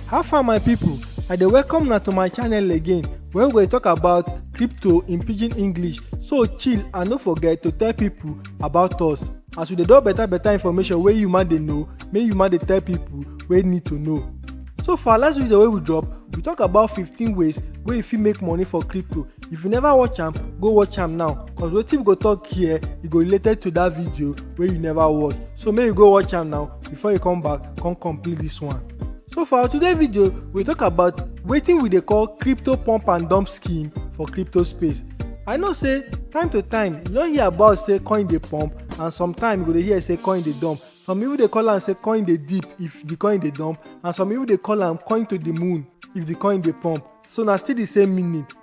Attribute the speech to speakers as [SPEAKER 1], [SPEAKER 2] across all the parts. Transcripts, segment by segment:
[SPEAKER 1] how far my people i dey welcome una to my channel again where we go dey talk about crypto in pidgin english so chill and no forget to tell people about us as we dey drop better better information wey you ma dey know make you ma dey tell people wey need to know so for our last video wey we drop we talk about 15 ways wey you fit make money for crypto if you never watch am go watch am now cause wetin we go talk here e go related to that video wey you never watch so make you go watch am now before you come back come complete this one so for our today video we talk about wetin we dey call crypto pump and dump scheme for crypto space i know say time to time you don hear about say coin dey pump and sometimes you go dey hear say coin dey dump some people dey call am say coin dey deep if the coin dey dump and some people dey call am coin to the moon if the coin dey pump so na still the same meaning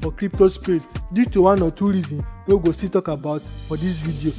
[SPEAKER 1] for crypto space due to one or two reasons wey we go still talk about for this video.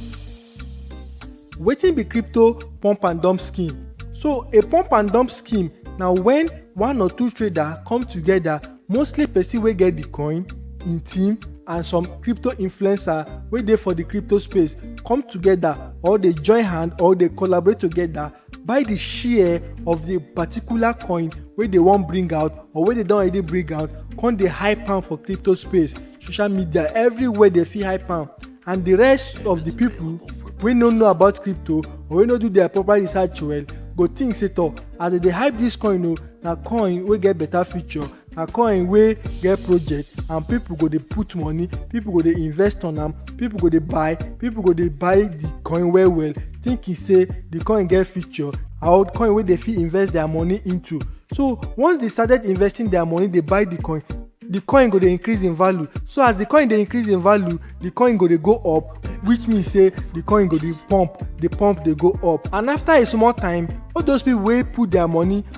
[SPEAKER 1] Wetin be crypto pump and dump scheme? So a pump and dump scheme na when one or two trader come together mostly person wey get the coin, im team and some crypto influencer wey dey for the crypto space come together or dey join hand or dey collaborate together buy the share of the particular coin wey dey wan bring out or wey dey don already bring out come dey hype am for crypto space social media everywhere dey fit hype am and the rest of the people wey no know about crypto or wey no do their proper research well go think say toh as dem dey hype this coin o na coin wey get better future na coin wey get project and people go dey put money people go dey invest on am people go dey buy people go dey buy the coin well well thinking say the coin get future or coin wey dey fit invest their money into so once they started investing their money dey buy the coin the coin go dey increase in value so as the coin dey increase in value the coin go dey go up which mean say the coin go dey pump dey pump dey go up and after a small time all those people wey put their money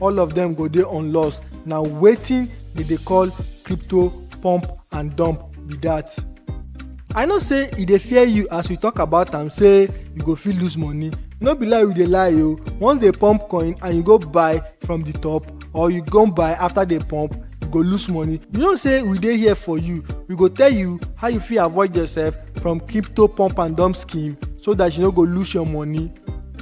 [SPEAKER 1] all of them go dey on loss na wetin dem dey call crypto pump and dump be that. i know say e dey fear you as we talk about am say you go fit lose money no be lie we dey lie o once dey pump coin and you go buy from the top or you go buy after dey pump you go lose money you know say we dey here for you we go tell you how you fit avoid yourself from crypto pump and dump scheme so that you no go lose your money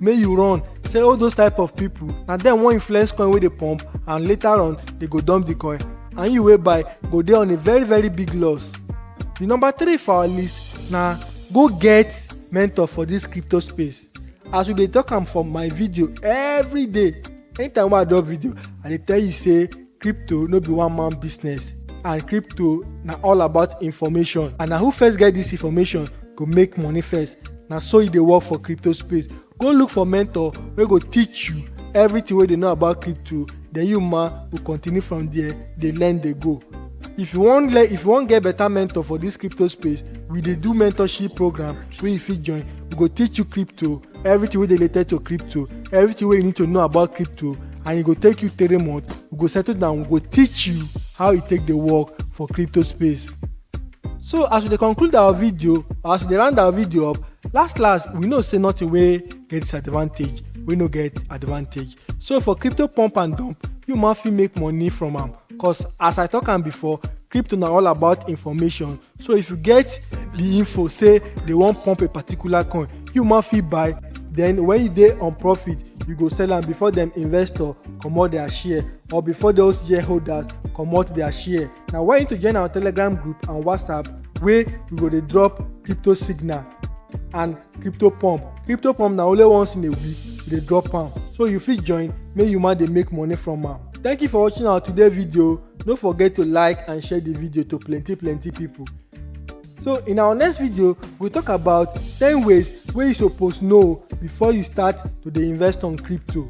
[SPEAKER 1] make you run say all those type of people na dem wan influence coin wey dey pump and later on they go dump the coin and you wey buy go dey on a very very big loss the number three for our list na go get mentor for this crypto space as we dey talk am for my video every day anytime wey i drop video i dey tell you say Crypto no be one man business and crypto na all about information and na who first get this information go make money first. Na so e dey work for crypto space. Go look for mentor wey go teach you everything wey dey know about crypto then you ma go continue from there dey learn dey go. If you wan learn if you wan get better mentor for this crypto space we dey do mentorship program wey you fit join. We go teach you crypto everything wey dey related to crypto everything wey you need to know about crypto and e go take you three months we go settle down we go teach you how e take dey work for crypto space so as we dey conclude our video or as we dey round our video up last last we know say nothing wey get disadvantage wey no get advantage so for crypto pump and dump you ma fit make money from am cause as i talk am before crypto na all about information so if you get the info say they wan pump a particular coin you ma fit buy then when you dey on profit you go sell am before dem investor comot their share or before those shareholders comot their share na why you need to join our telegram group and whatsapp wey we go dey drop crypto signal and crypto pump crypto pump na only once in a week we dey drop am so you fit join make you ma dey make money from am thank you for watching our today video no forget to like and share the video to plenty plenty people so in our next video we talk about 10 ways wey you suppose know before you start to dey invest on crypto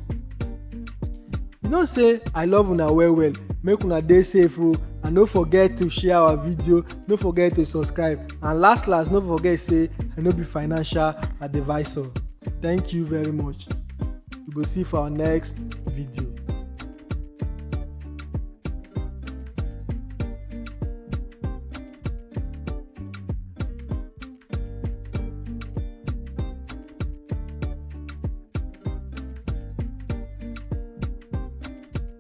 [SPEAKER 1] you know say i love una well well make una dey safe o and no forget to share our video no forget to subscribe and last last no forget say i no be financial advisor thank you very much we go see for our next video